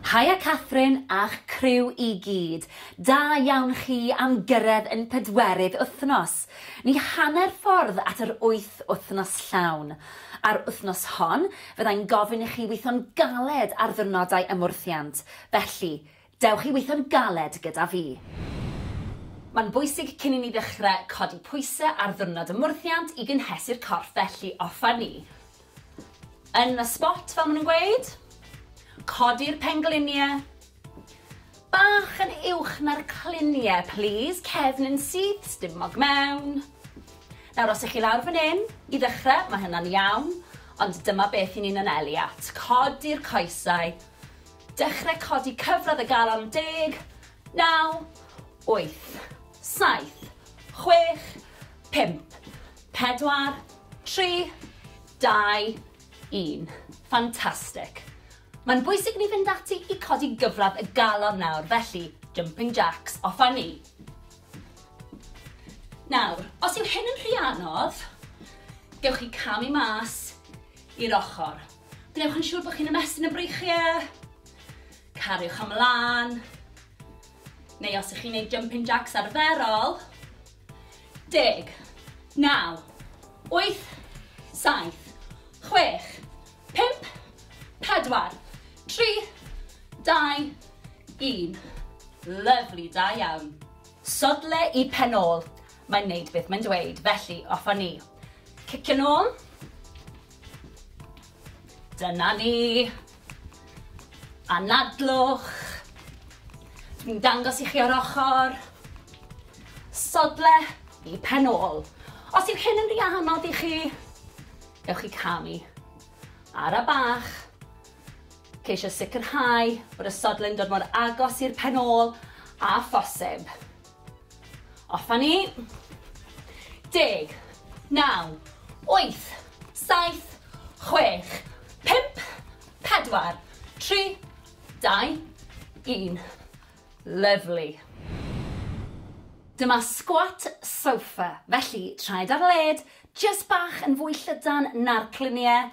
Haia Catherine a'ch criw i gyd. Da iawn chi am gyrraedd yn pedwerydd wythnos. Ni hanner ffordd at yr wyth wythnos llawn. Ar wythnos hon, fyddai'n gofyn i chi weithio'n galed ar ddiwrnodau ymwrthiant, felly, Dewch i weithio'n galed gyda fi. Mae'n bwysig cyn i ni ddechrau codi pwysau ar ddiwrnod ymwrthiant i gynhesu'r corff felly offer ni yn y spot fel maen nhw'n gweud. Codi'r pengliniau bach yn uwch na'r cliniau plîs, cefn yn syth, stumog mewn. Nawr os ych chi lawr fan hyn i ddechrau mae hynna'n iawn ond dyma beth i ni'n anelu at. Codi'r coesau Dechrau codi cyfradd y galon deg, naw, wyth, saith, chwech, pump, pedwar, tri, dau, un. Fantastic. Mae'n bwysig ni fynd ati i codi gyfradd y galon nawr, felly jumping jacks, off a ni. Nawr, os yw hyn yn rhy anodd, gewch chi camu mas i'r ochr. Gwnewch yn siŵr bod chi'n ymestyn y breichiau. Cariwch ymlaen. Neu os ych chi'n gwneud jumping jacks arferol. Deg, naw, wyth, saith, chwech, pimp, pedwar, tri, dau, un. Lyflu, da iawn. Sodle i pen ôl. Mae'n neud beth mae'n dweud, felly off â ni. Cicio'n ôl. Dyna ni. Anadlwch. Dwi'n dangos i chi o'r ochr. Sodle i pen ôl. Os yw hyn yn rhy anodd i chi, ewch i camu. Ara bach. Ceisio sicrhau bod y sodle'n dod mor agos i'r pen ôl a phosib. Off a ni. Deg. Naw. Wyth. Saith. Chwech. Pump. Pedwar. Tri. Dau. Un. Lyfli. Dyma squat sofa, felly traed ar led, jyst bach yn fwy llydan na'r cluniau,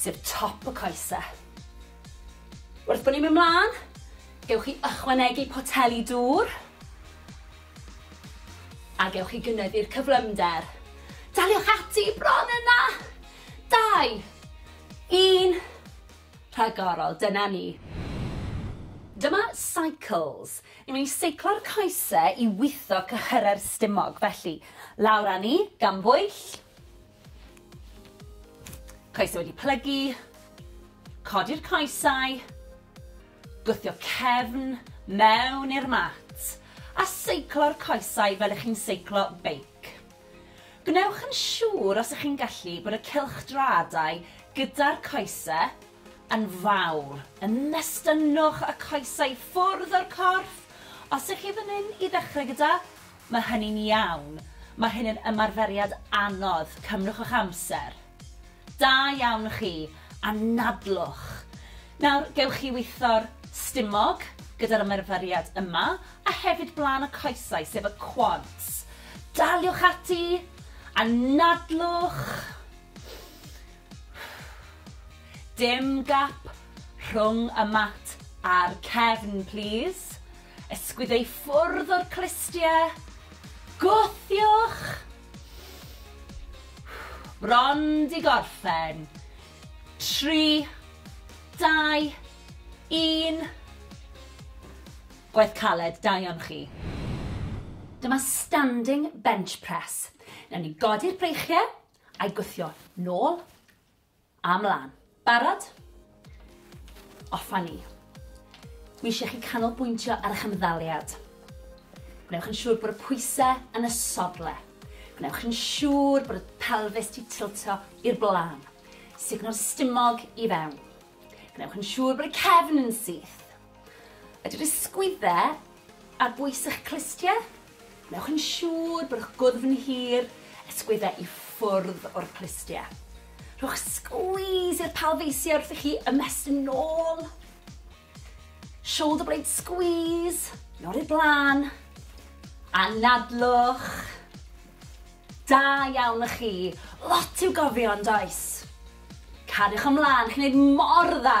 sef top y coese. Wrth bod ni'n mynd mlaen, gewch chi ychwanegu poteli dŵr a gewch chi gynyddu'r cyflymder. Daliwch ati bron yna! Dau, un, rhagorol, dyna ni. Dyma cycles. Ni'n mynd i seiclo'r coese i witho cyhyrau'r stumog, felly lawr â ni, gan bwyll, Coesau wedi plygu, codi'r coesau, gwthio cefn mewn i'r mat a seiclo'r coesau fel ych chi'n seiclo beic. Gwnewch yn siŵr os ych chi'n gallu bod y cylchdraadau gyda'r coesau yn fawr. Ymestynnwch y coesau ffwrdd o'r corff os ych chi fan hyn i ddechrau gyda Mae hynny'n iawn. Mae hyn yn ymarferiad anodd. Cymrwch eich amser. Da iawn chi. Anadlwch. Nawr, gewch chi weithio'r stumog gyda'r ymarferiad yma, a hefyd blaen y coesau, sef y quads. Daliwch ati. Anadlwch. Dim gap rhwng y mat a'r cefn, plîs. Ysgwyd ei ffwrdd o'r clustiau. Gwthiwch! Bron 'di gorffen. Tri, dau, un. Gwaith caled, da iawn chi. Dyma standing bench press. Newn ni godi'r breichiau a'i gwthio nôl. A mlan. Barod? Off a ni. Dwi eisiau chi canolbwyntio ar eich ymddaliad. Gwnewch yn siŵr bod y pwysau yn y sodle. Gwnewch yn siŵr bod y pelfis di tiltio i'r blaen. Sugno'r stumog i fewn. Gwnewch yn siŵr bod y cefn yn syth. Ydy'r ysgwydde ar bwys eich clustie? Wnewch yn siŵr bod eich gwddf yn hir, ysgwydde i ffwrdd o'r clustie. Rhowch squeeze i'r palfeisiau wrth i chi ymestyn nôl. Shoulder blade squeeze, nôl i'r blaen. Anadlwch. Da iawn y chi. Lot i'w gofio yn does? Cariwch ymlaen, chi'n gwneud mor dda.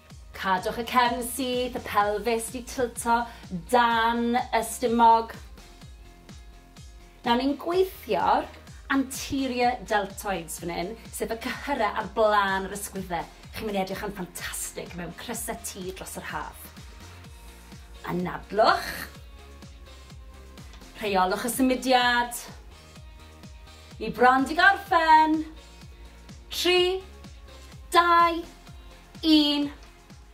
Cadwch y cefn syth, y pelfis 'di tilto dan y stumog. Nawr ni'n gweithio'r anterior deltoids fan hyn, sef y cyhyrau ar blaen yr ysgwydde. Chi'n mynd i edrych yn ffantastig mewn crysau T dros yr haf. Anadlwch. Rheolwch y symudiad. Ni bron di gorffen. Tri, dau, Un,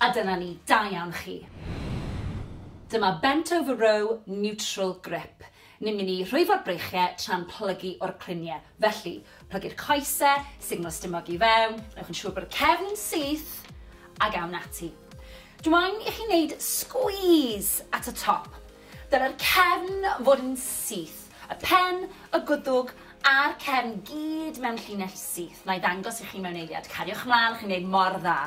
a dyna ni, da iawn chi. Dyma bent over row neutral grip. Ni'n mynd i rhwyfo'r breichiau tra'n plygu o'r cluniau. Felly, plygu'r coesau, signal stumog i fewn, newch yn siŵr bod y cefn yn syth, ac awn ati. Dw i'n i chi wneud squeeze at y top. Dylai'r cefn fod yn syth, y pen, y gwddwg a'r cefn gyd mewn llinell syth. Wna i ddangos i chi mewn eiliad. Cariwch mlaen, chi'n gwneud mor dda.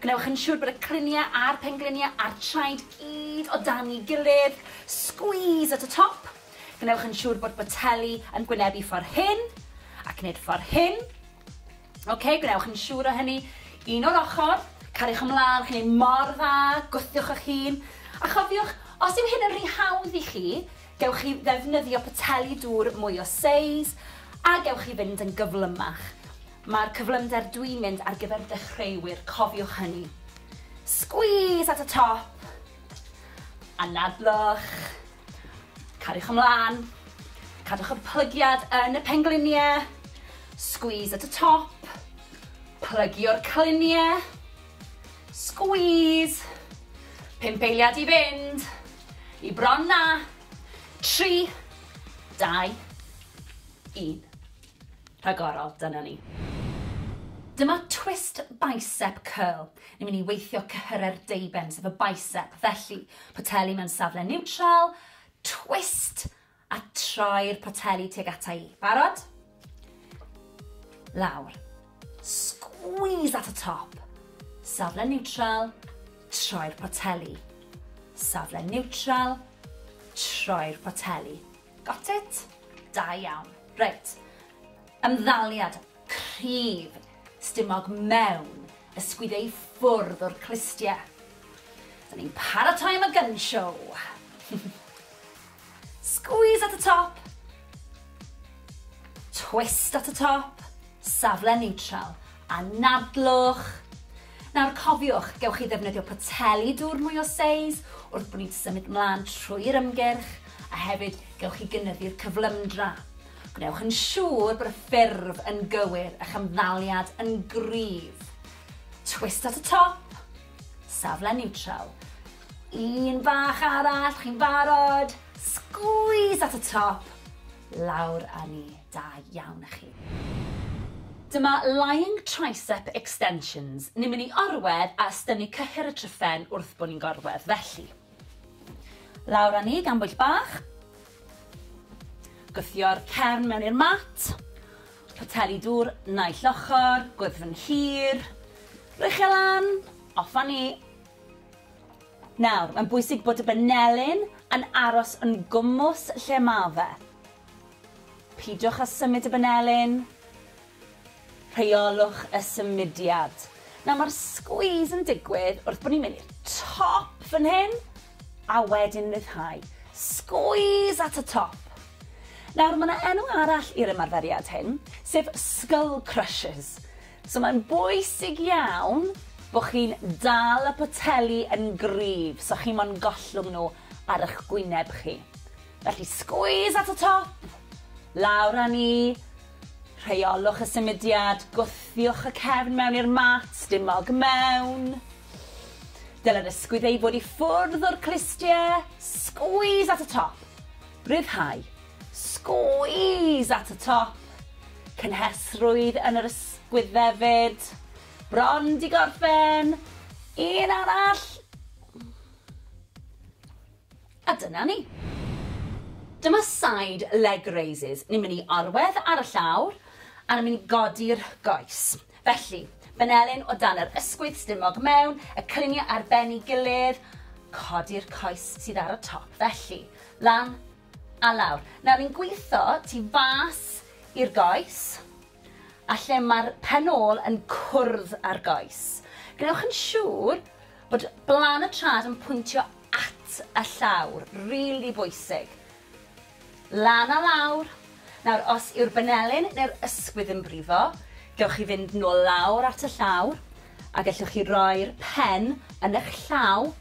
Gwnewch yn siŵr bod y cliniau a'r pengliniau a'r traed gyd o dan i gilydd. Squeeze at y top. Gwnewch yn siŵr bod boteli yn gwynebu ffordd hyn, ac wneud ffordd hyn. Ok, gwnewch yn siŵr o hynny. Un o'r ochr, cariwch ymlaen, chi'n ei mor dda, gwthiwch eich hun. A chofiwch, os yw hyn yn rhy hawdd i chi, gewch chi ddefnyddio poteli dŵr mwy o seis, a gewch chi fynd yn gyflymach. Mae'r cyflymder dwi'n mynd ar gyfer dechreuwyr, cofiwch hynny. Squeeze at y top, anadlwch. Cariwch ymlaen. Cadwch y plygiad yn y pengliniau. Squeeze at y top. Plygio'r cliniau. Squeeze. Pump eiliad i fynd. I bron na. Tri. Dau. Un. Rhagorol, dyna ni. Dyma twist bicep curl. Ni'n mynd i weithio cyhyrau'r deuben, sef y bicep. Felly, poteli mewn safle niwtral, twist, a troi'r poteli tuag ata i. Barod? Lawr. Squeeze at y top. Safle niwtral, troi'r poteli. Safle niwtral, troi'r poteli. Got it? Da iawn. Reit. Ymddaliad cryf stumog mewn ysgwyd ei ffwrdd o'r clustie. Dyn ni'n paratoi am y gun show. Squeeze at y top. Twist at y top. Safle neutral. Anadlwch. Nawr cofiwch, gewch chi ddefnyddio poteli dŵr mwy o seis wrth bod ni'n symud mlaen trwy'r ymgyrch, a hefyd gewch chi gynyddu'r cyflymdra. Gwnewch yn siŵr bod y ffurf yn gywir, a'ch ymddaliad yn gryf. Twist at y top, safle niwtral. Un bach arall, chi'n barod? Sgwîs at y top, lawr â ni. Da iawn chi. Dyma Lying Tricep Extensions. Ni'n mynd i orwedd a ystynnu cyhyr y tryphen wrth bo ni'n gorwedd, felly. Lawr â ni gan bwyll bach. Gwthio'r cefn mewn i'r mat. Poteli dŵr naill ochr, gwddfn hir. Rhoi chi e lan, off â ni. Nawr, mae'n bwysig bod y benelin yn aros yn gwmws lle ma fe. Peidiwch â symud y banelin. Rheolwch y symudiad. Nawr mae'r squeeze yn digwydd wrth bod ni'n mynd i'r top fan hyn a wedyn ryddhau. Squeeze at y top. Nawr mae yna enw arall i'r ymarferiad hyn, sef skull crushes. So mae'n bwysig iawn bod chi'n dal y poteli yn gryf so chi mo'n gollwng nhw ar eich gwyneb chi. Felly squeeze at y top, lawr â ni, rheolwch y symudiad, gwthiwch y cefn mewn i'r mat, dim mog mewn. Dylai'r ysgwydd ei fod i ffwrdd o'r clustiau, squeeze at y top, rhyddhau, squeeze at y top, cynhesrwydd yn yr ysgwydd hefyd, bron di gorffen, un arall, A dyna ni. Dyma side leg raises. Ni'n mynd i orwedd ar y llawr a ni'n mynd i godi'r goes. Felly, benelin o dan yr ysgwydd stumog mewn, y cylunie ar ben i gilydd, codi'r coes sydd ar y top. Felly, lan a lawr. Nawr ni'n gwitho tu fas i'r goes a lle mae'r pen ôl yn cwrdd â'r goes. Gwnewch yn siŵr bod blan y trad yn pwyntio at y llawr, rili bwysig. Lan a lawr. Nawr, os yw'r banelyn neu'r ysgwydd yn brifo, gewch chi fynd nôl lawr at y llawr, a gellwch chi roi'r pen yn eich llaw,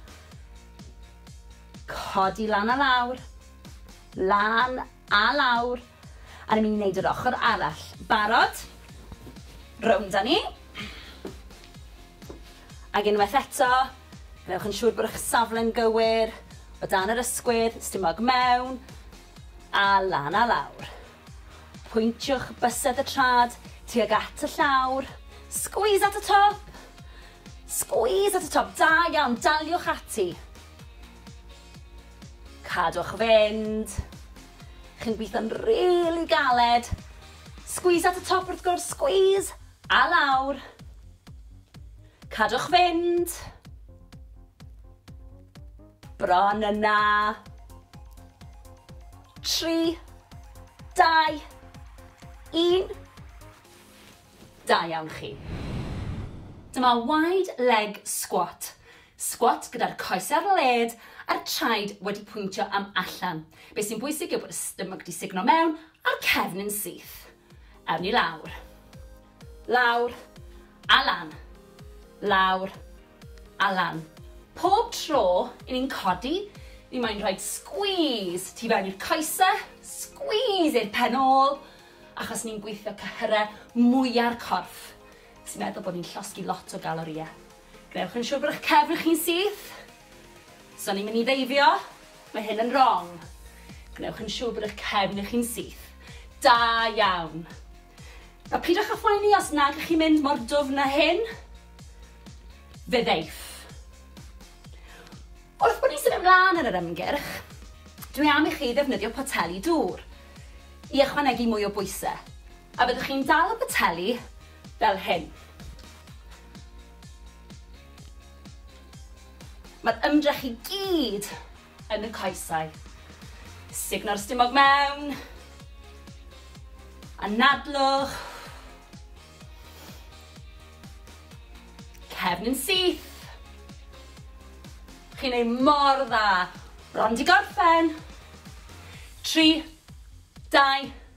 codi lan a lawr, lan a lawr, a ni'n mynd i wneud yr ochr arall. Barod? Rownd â ni. Ac unwaith eto, gwnewch yn siŵr bod eich safle'n gywir, o dan yr ysgwydd, stumog mewn, a lan a lawr. Pwyntiwch bysedd y trad tuag at y llawr, squeeze at y top! Squeeze at y top, da iawn, daliwch ati. Cadwch fynd. Chi'n gweithio'n rili galed. Squeeze at y top wrth gwrs, squeeze! A lawr. Cadwch fynd. Bron yna. Tri. Dau. Un. Da iawn chi. Dyma wide leg squat. Squat gyda'r coes ar led a'r traed wedi pwyntio am allan. Be sy'n bwysig yw bod y stomach di signo mewn a'r cefn yn syth. Awn ni lawr. Lawr. A lan. Lawr. A lan. Pob tro i ni'n codi, ni moyn rhoid squeeze tu fewn i'r coese, squeeze i'r pen ôl, achos ni'n gweithio cyhyrau mwya'r corff, sy'n meddwl bod ni'n llosgi lot o galorïau. Gwnewch yn siwr bod eich cefn chi'n syth. Os o'n i'n mynd i ddeifio, mae hyn yn wrong. Gwnewch yn siwr bod eich cefn chi'n syth. Da iawn. A pidwch â phoeni os nag ych chi'n mynd mor dwfn â hyn. Fe ddeiff. Wrth bod ni'n symud ymlaen yn yr ymgyrch, dwi am i chi ddefnyddio poteli dŵr i ychwanegu mwy o bwysau, a byddwch chi'n dal y poteli fel hyn. Mae'r ymdrech i gyd yn y coesau. Sugno'r stumog mewn. Anadlwch. Cefn yn syth. Chi'n ei mor dda. Bron di gorffen. 3, 2,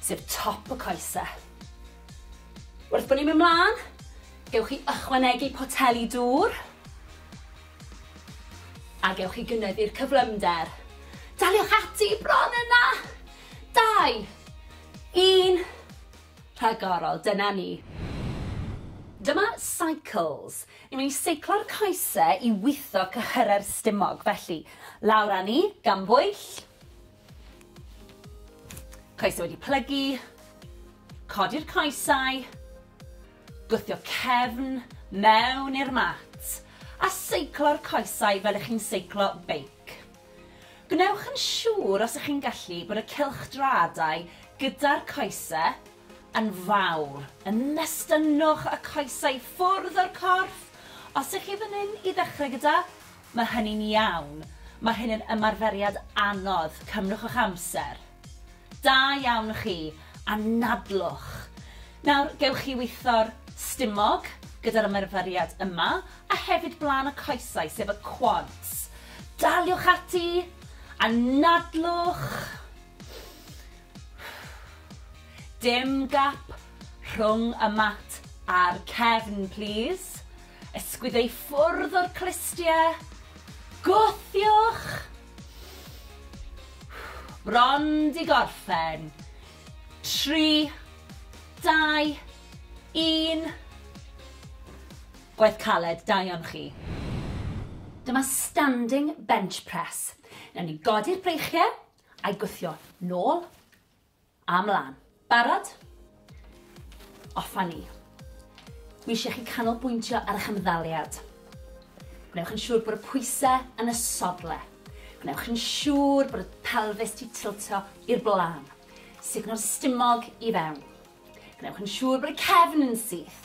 sef top y coese. Wrth bod ni'n mynd mlaen, gewch chi ychwanegu poteli dŵr a gewch chi gynyddu'r cyflymder. Daliwch ati bron yna! Dau, un, rhagorol, dyna ni. Dyma cycles. Ni'n mynd i seiclo'r coese i witho cyhyrau'r stumog, felly lawr â ni, gan bwyll, Coesau wedi plygu, codi'r coesau, gwthio cefn mewn i'r mat a seiclo'r coesau fel ych chi'n seiclo beic. Gwnewch yn siŵr os ych chi'n gallu bod y cylchdraadau gyda'r coesau yn fawr. Ymestynnwch y coesau ffwrdd o'r corff os ych chi fan hyn i ddechrau gyda Mae hynny'n iawn. Mae hyn yn ymarferiad anodd. Cymrwch eich amser. Da iawn chi. Anadlwch. Nawr, gewch chi weithio'r stumog gyda'r ymarferiad yma, a hefyd blaen y coesau, sef y quads. Daliwch ati. Anadlwch. Dim gap rhwng y mat a'r cefn, plîs. Ysgwyd ei ffwrdd o'r clustiau. Gwthiwch! Bron di gorffen. Tri, dau, un. Gwaith caled, da iawn chi. Dyma standing bench press. Newn ni godi'r breichiau a'i gwthio nôl. A mlan. Barod? Off a ni. Dwi eisiau chi canolbwyntio ar eich ymddaliad. Gwnewch yn siŵr bod y pwysau yn y sodle. Gwnewch yn siŵr bod y pelfis 'di tiltio i'r blaen. Sugno'r stumog i fewn. Gwnewch yn siŵr bod y cefn yn syth.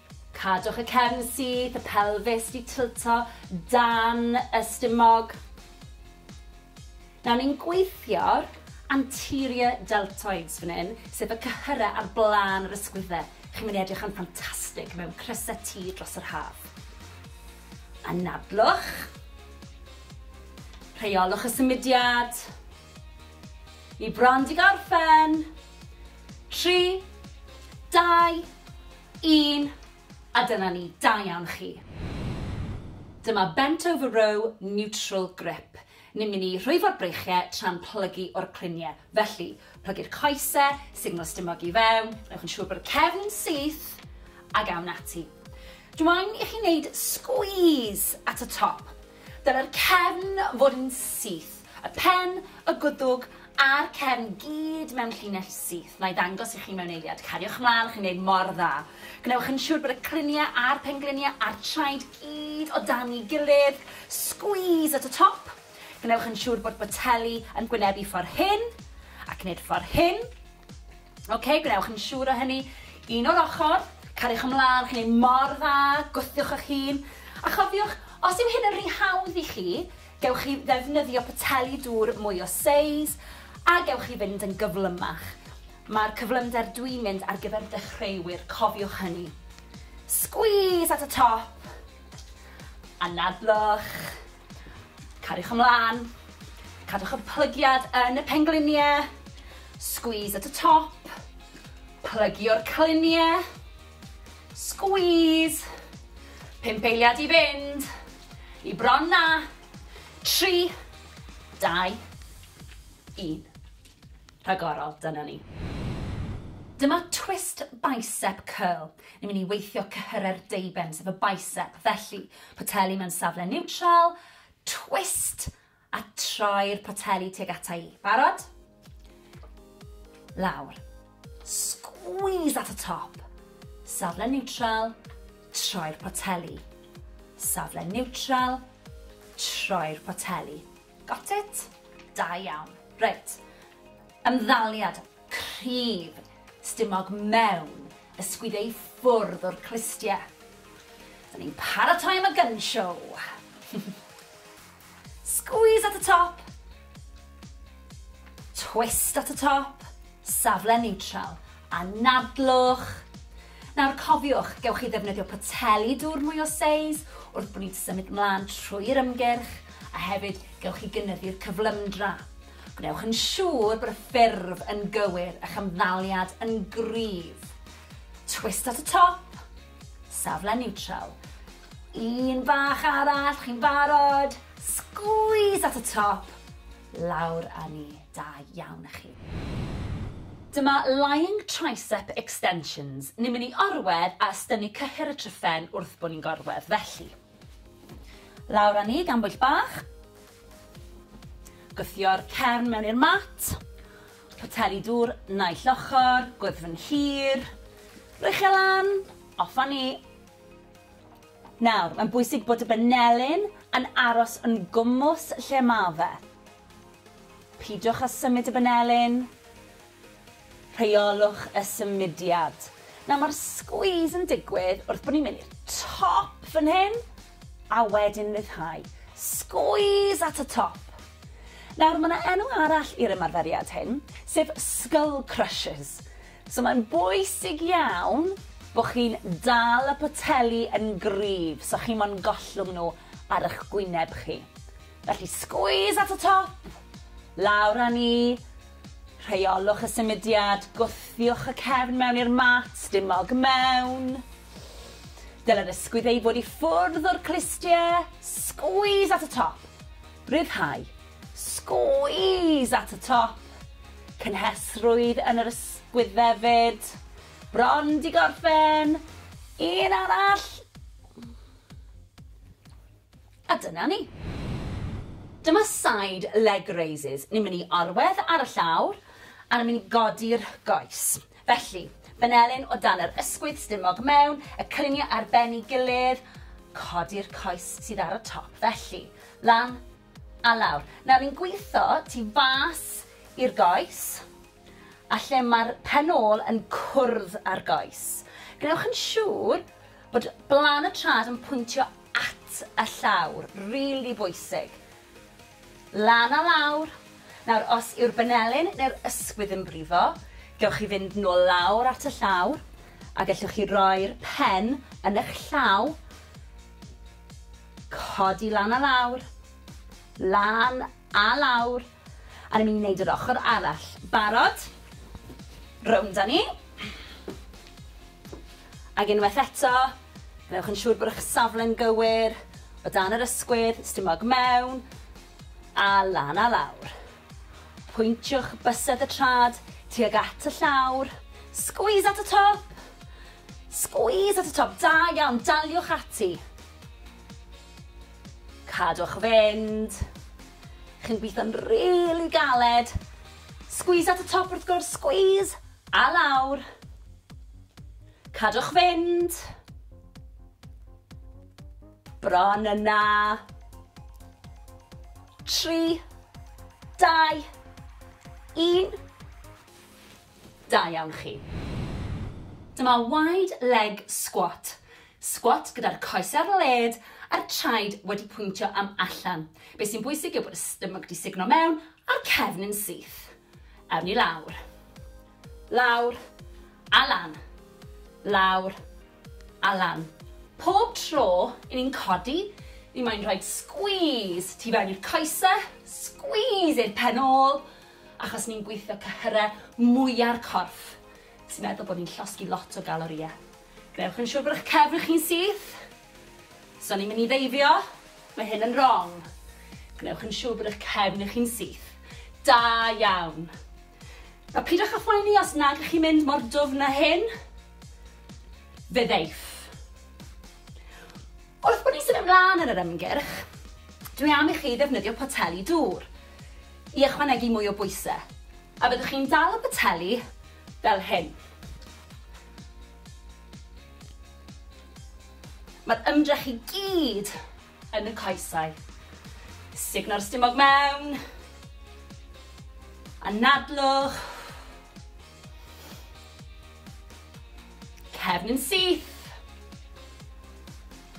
Cadwch y cefn syth, y pelfis 'di tilto dan y stumog. Nawr ni'n gweithio'r anterior deltoids fan hyn, sef y cyhyrau ar blaen yr ysgwyddau. Chi'n mynd i edrych yn ffantastig mewn crysau T dros yr haf. Anadlwch. Rheolwch y symudiad. Ni bron di gorffen. Tri, dau, Un, a dyna ni, da iawn chi. Dyma Bent Over Row Neutral Grip. Ni'n mynd i rhwyfo'r breichiau tra'n plygu o'r cluniau. Felly, plygu'r coesau, signal stumog i fewn, newch yn siŵr bod y cefn yn syth, ac awn ati. Dw i'n i chi wneud squeeze at y top. Dylai'r cefn fod yn syth, y pen, y gwddwg a'r cefn gyd mewn llinell syth. Wna i ddangos i chi mewn eiliad. Cariwch mlaen, chi'n gwneud mor dda. Gwnewch yn siŵr bod y cliniau a'r pengliniau a'r traed gyd o dan ei gilydd. Squeeze at y top. Gwnewch yn siŵr bod boteli yn gwynebu ffordd hyn ac wneud ffordd hyn. Ok, gwnewch yn siŵr o hynny. Un o'r ochr, cariwch ymlaen, chi'n ei mor dda, gwthiwch eich hun. A chofiwch, os yw hyn yn rhy hawdd i chi, gewch chi ddefnyddio poteli dŵr mwy o seis, a gewch chi fynd yn gyflymach. Mae'r cyflymder dwi'n mynd ar gyfer dechreuwyr, cofiwch hynny. Squeeze at y top, anadlwch. Cariwch ymlaen. Cadwch y plygiad yn y pengliniau. Squeeze at y top. Plygio'r cliniau. Squeeze. Pump eiliad i fynd. I bron na. Tri. Dau. Un. rhagorol, dyna ni. Dyma twist bicep curl. Ni'n mynd i weithio cyhyrau'r deuben, sef y bicep. Felly, poteli mewn safle niwtral, twist, a troi'r poteli tuag ata i. Barod? Lawr. Squeeze at y top. Safle niwtral, troi'r poteli. Safle niwtral, troi'r poteli. Got it? Da iawn. Reit. Ymddaliad cryf stumog mewn ysgwyd ei ffwrdd o'r clustie. Dyn ni'n paratoi am y gun show. Squeeze at y top. Twist at y top. Safle neutral. Anadlwch. Nawr cofiwch, gewch chi ddefnyddio poteli dŵr mwy o seis wrth bod ni'n symud mlaen trwy'r ymgyrch, a hefyd gewch chi gynyddu'r cyflymdra. Gwnewch yn siŵr bod y ffurf yn gywir, a'ch ymddaliad yn gryf. Twist at y top, safle niwtral. Un bach arall, chi'n barod? Sgwîs at y top, lawr â ni. Da iawn a chi. Dyma Lying Tricep Extensions, ni'n mynd i orwedd a ystynnu cyhyr y tryphen wrth bo ni'n gorwedd, felly. Lawr a ni gan bwyll bach. Gwthio'r cefn mewn i'r mat. Poteli dŵr naill ochr, gwddfn hir. Rwy'ch e lan, off a ni. Nawr, mae'n bwysig bod y benelin yn aros yn gwmws lle ma fe. Peidiwch â symud y banelin. Rheolwch y symudiad. Nawr mae'r squeeze yn digwydd wrth bod ni'n mynd i'r top fan hyn a wedyn ryddhau. Squeeze at y top. Nawr mae yna enw arall i'r ymarferiad hyn, sef skull crushes. So mae'n bwysig iawn bod chi'n dal y poteli yn gryf so chi mo'n gollwng nhw ar eich gwyneb chi. Felly squeeze at y top, lawr â ni, rheolwch y symudiad, gwthiwch y cefn mewn i'r mat, dim mog mewn. Dylai'r ysgwydd ei fod i ffwrdd o'r clustie, squeeze at y top, rhyddhau, squeeze at y top, cynhesrwydd yn yr ysgwydd hefyd, bron di gorffen, un arall, A dyna ni. Dyma side leg raises. Ni'n mynd i orwedd ar y llawr a ni'n mynd i godi'r goes. Felly, benelin o dan yr ysgwydd, stumog mewn, y cyniau ar ben ei gilydd, codi'r coes sydd ar y top. Felly, lan a lawr. Nawr, ni'n gweithio tu fas i'r goes a lle mae'r pen ôl yn cwrdd â'r goes. Gwnewch yn siŵr bod blan y trad yn pwyntio at y llawr, rili bwysig. Lan a lawr. Nawr, os yw'r banelin neu'r ysgwydd yn brifo, gewch chi fynd nôl lawr at y llawr, a gellwch chi roi'r pen yn eich llaw, codi lan a lawr, lan a lawr, a ni'n mynd i wneud yr ochr arall. Barod? Rownd â ni. Ac unwaith eto, gwnewch yn siŵr bod eich safle'n gywir, o dan yr ysgwydd, stumog mewn, a lan a lawr. Pwyntiwch bysedd y trad tuag at y llawr, squeeze at y top! Squeeze at y top, da iawn, daliwch ati. Cadwch fynd. Chi'n gweithio'n rili galed. Squeeze at y top wrth gwrs, squeeze! A lawr. Cadwch fynd. Bron yna. Tri. Dau. Un. Da iawn chi. Dyma wide leg squat. Squat gyda'r coes ar led a'r traed wedi pwyntio am allan. Be sy'n bwysig yw bod y stomach di signo mewn a'r cefn yn syth. Awn ni lawr. Lawr. A lan. Lawr. A lan. Pob tro i ni'n codi, ni moyn rhoi squeeze tu fewn i'r coese, squeeze i'r pen ôl, achos ni'n gweithio cyhyrau mwya'r corff, sy'n meddwl bod ni'n llosgi lot o galorïau. Gwnewch yn siwr bod eich cefn chi'n syth. Os o'n i'n mynd i ddeifio, mae hyn yn wrong. Gwnewch yn siwr bod eich cefn chi'n syth. Da iawn. A pidwch â phoeni os nag ych chi'n mynd mor dwfn â hyn. Fe ddeiff. Wrth bod ni'n symud ymlaen yn yr ymgyrch, dwi am i chi ddefnyddio poteli dŵr i ychwanegu mwy o bwysau, a byddwch chi'n dal y poteli fel hyn. Mae'r ymdrech i gyd yn y coesau. Sugno'r stumog mewn. Anadlwch. Cefn yn syth.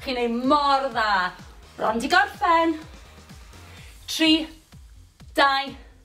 Chi'n ei mor dda. Bron di gorffen. 3, 2,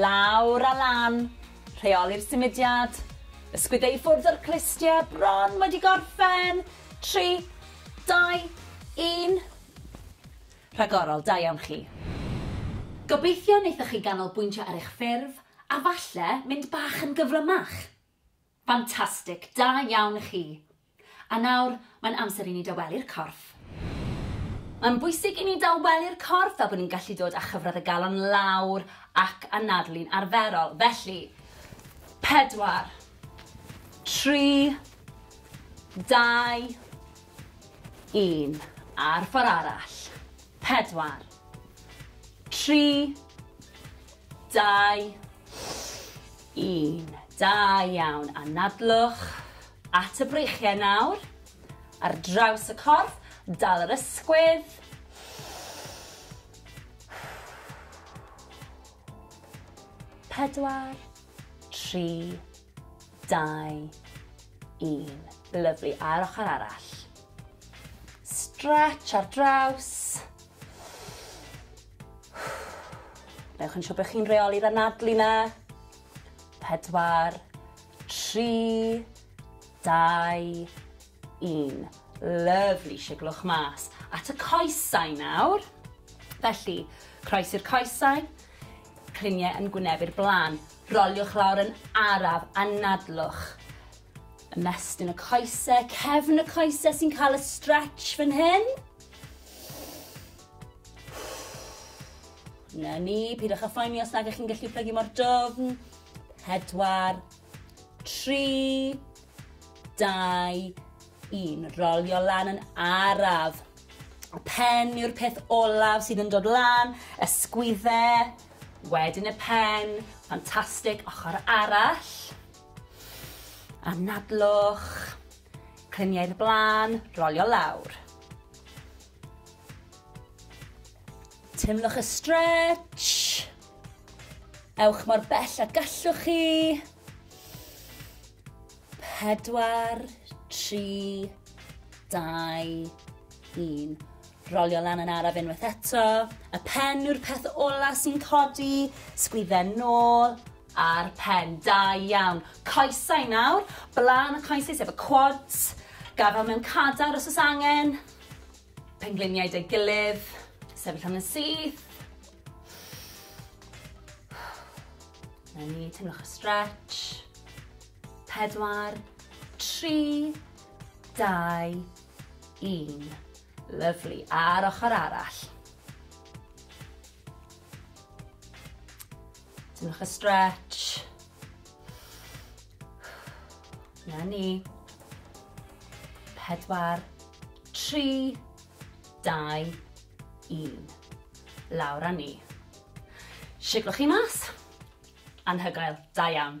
Lawr a lan, rheoli'r symudiad, ysgwyd e i ffwrdd o'r clustiau, bron wedi gorffen, tri, dau, un. Rhagorol, da iawn chi. Gobeithio wnaethoch chi ganolbwyntio ar eich ffurf a falle mynd bach yn gyflymach. Ffantastig! Da iawn chi! A nawr, mae'n amser i ni dawelu'r corff. Mae'n bwysig i ni dawelu'r corff fel bod ni'n gallu dod â chyfradd y galon lawr ac anadlu'n arferol. Felly, pedwar, tri, dau, un. A'r ffordd arall. Pedwar, tri, Dau, un. Da iawn. Anadlwch at y breichiau nawr. Ar draws y corff, dal yr ysgwydd. Pedwar, tri, dau, un. Lyflu. A'r ochr arall. Stretch ar draws. Newch yn siŵr bod chi'n rheoli'r anadlu 'na. Pedwar, tri, dau, un. Lyfli, siglwch mas. At y coesau nawr. Felly, croes i'r coesau, cliniau yn gwynebu'r blaen. Roliwch lawr yn araf, anadlwch. Ymestyn y coesau, cefn y coesau sy'n cael y stretch fan hyn. Na ni, pidwch â phoeni os nag ych chi'n gallu plygu mor dofn. Pedwar, tri, dau, un. Rolio lan yn araf. Y pen yw'r peth olaf sydd yn dod lan, y sgwydde, wedyn y pen, ffantastig, ochr arall. Anadlwch, cliniau'r blaen, rolio lawr. Teimlwch y stretch. Ewch mor bell a gallwch chi. Pedwar, tri, dau, un. Rolio lan yn araf unwaith eto. Y pen yw'r peth ola sy'n codi. Sgwydden nôl a'r pen. Da iawn. Coesau nawr. Blaen y coesau sef y quads. Gafel mewn cadar os oes angen. Pengliniau 'da'i gilydd. Sefyll am yn syth. Na ni, teimlwch y stretch. Pedwar, tri, dau, un. Lyflu. A'r ochr arall. Teimlwch y stretch. Na ni. Pedwar, tri, dau, un. Lawr a ni. Siglwch chi mas. Anhygoel. Da iawn.